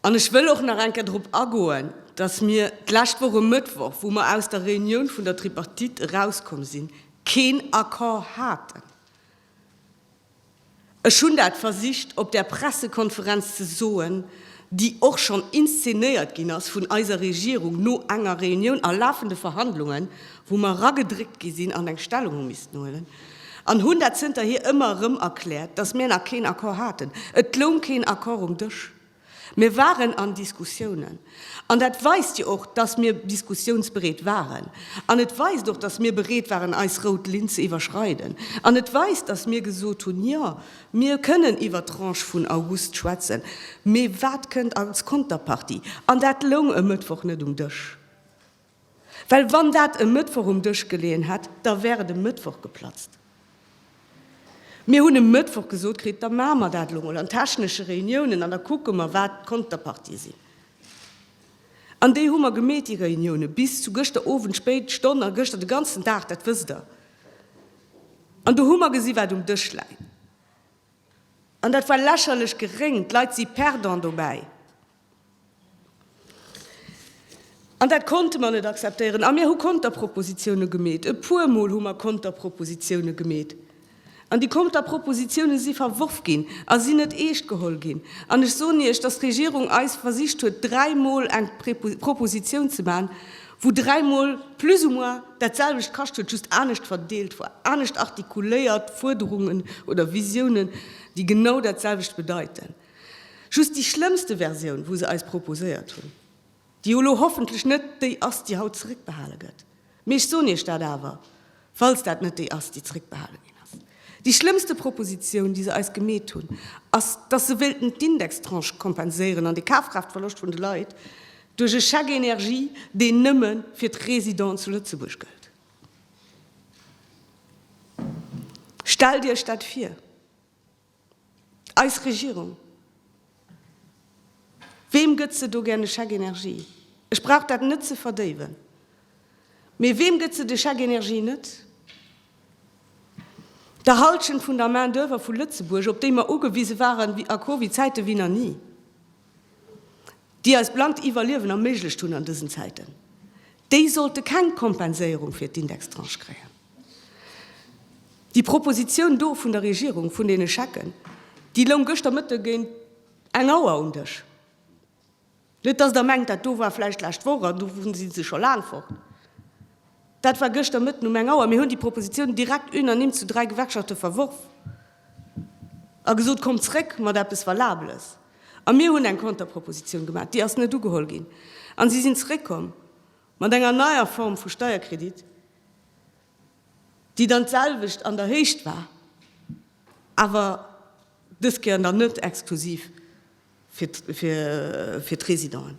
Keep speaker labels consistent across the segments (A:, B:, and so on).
A: An ech wëll och nach eng Kéier drop agoen, dass mir d'lescht Woch e Mëttwoch, wou mer aus der Reunioun vun der Tripartite erauskomm sinn, keen Accord haten. Ech hunn dat versicht op där Pressekonferenz ze soen, déi och schonn inszenéiert ginn ass vun eiser Regierung no enger Reunioun a lafende Verhandlungen, wou mer eragedréckt gi sinn an eng Stellung hu missten huelen. an hunn dat zënterhier ëmmer erëm erkläert, datt mir nach keen Accord haten. Et loung keen Accord um Dësch. Mir waren an Diskussiounen. An dat weist jo och, datt mir diskussiounsbereet waren. An et weist och, datt mir bereet waren, eis rout Linn ze iwwerschreiden. An et weist, datt mir gesot hunn, Jo, mir kënnen iwwer d'Tranche vun August schwätzen, mee wat kënnt als Konterpartie? An dat loung e Mëttwoch net um Dësch. Well wann dat e Mëttwoch um Dësch geleeën hätt, da wär et e Mëttwoch geplatzt. Mir hunn e Mëttwoch gesot kritt, da maache mer dat elo mol an technesche Reuniounen an da kucke mer, wat d'Konterpartie sinn. An déi hu mer gemeet, déi Reuniounen, bis zu gëschter Owend spéit Stonn a gëschter de ganzen Dag, dat wësst Der. An do hu mer gesi wat um Dësch läit. An dat war lächerlech geréng. D'Leit si perdant dobäi. An dat konnte mer net akzeptéieren. A mir hu Konterpropositione gemeet. E puermol hu mer Konterpropositione gemeet. An déi Konterpropositione si verworf ginn a sinn net eescht geholl ginn. An ech soen Iech, dass d'Regierung eis versicht huet, dräimol eng Proposition ze maachen, wou dräimol plus ou moins dat selwecht kascht huet, just anescht verdeelt war, anescht artikuléiert, Fuerderungen oder Visionen, déi genau dat selwecht bedeiten. Just déi schlëmmste Versioun, wou se eis proposéiert hunn, déi jo elo hoffentlech net déi ass, déi haut zeréckbehale gëtt, mee ech soen Iech dat awer, falls dat net déi ass, déi zeréckbehale ginn ass, déi schlëmmste Proposition, déi se eis gemeet hunn, ass, dass se wéilten d'Indextranche kompenséieren an de Kafkraaftverloscht vun de Leit duerch e Chèque énergie, deen nëmme fir d'Résidenten zu Lëtzebuerg gëllt. Stellt Iech dat vir! Eis Regierung, weem gëtt se do gär e Chèque énergie? Ech brauch dat net ze verdéiwen, mee weem gëtt se de Chèque énergie net? Der Hallschent vun der Main-d'oeuvre vu Lëtzebuerg, op déi mer ugewise waren a Covid-Zäite wéi na ni. déi eis blankt Iwwerliewen erméiglecht hunn an dësen Zäiten, déi sollte keng Kompenséierung fir d'Indextranche kréien. Déi Proposition do vun der Regierung vun deene Schecken, déi loung gëschter Mëtte géint eng Auer um Dësch. Net dass Der mengt, dat do war vläicht d'lescht Woch an do si se scho laang fort. Dat war gëschter Mëtten um eng Auer. Mir hunn déi Proposition direkt unanime zu dräi Gewerkschafte verworf. A gesot, Kommt zréck mat eppes Valabeles! A mir hunn eng Konterpropositioun gemaach, déi ass net ugeholl ginn. A si sinn zréckkomm mat enger neier Form vu Steierkredit, déi dann d'selwecht an der Héicht war, awer dës Kéier dann net exklusiv fir d'Résidenten.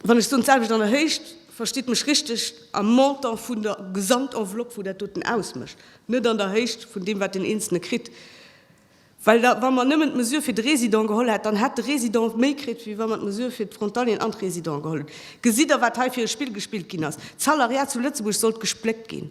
A: Wann ech soen d'selwecht an der Héicht, verstitt mech richteg am Montant vun der Gesamtenveloppe wou dat doten ausmécht, net an der Héicht vun deem wat deen Eenzele kritt. Well da wa mer nëmmen d'Mesure fir de Résident geholl hätt, dann hätt de Résident méi kritt wéi wa mer d'Mesure fir d'Frontalieren an d'Résidenten geholl hunn. Gesitt Der wat hei fir e Spill gespillt ginn ass? D'Salariat zu Lëtzebuerg sollt gespléckt ginn.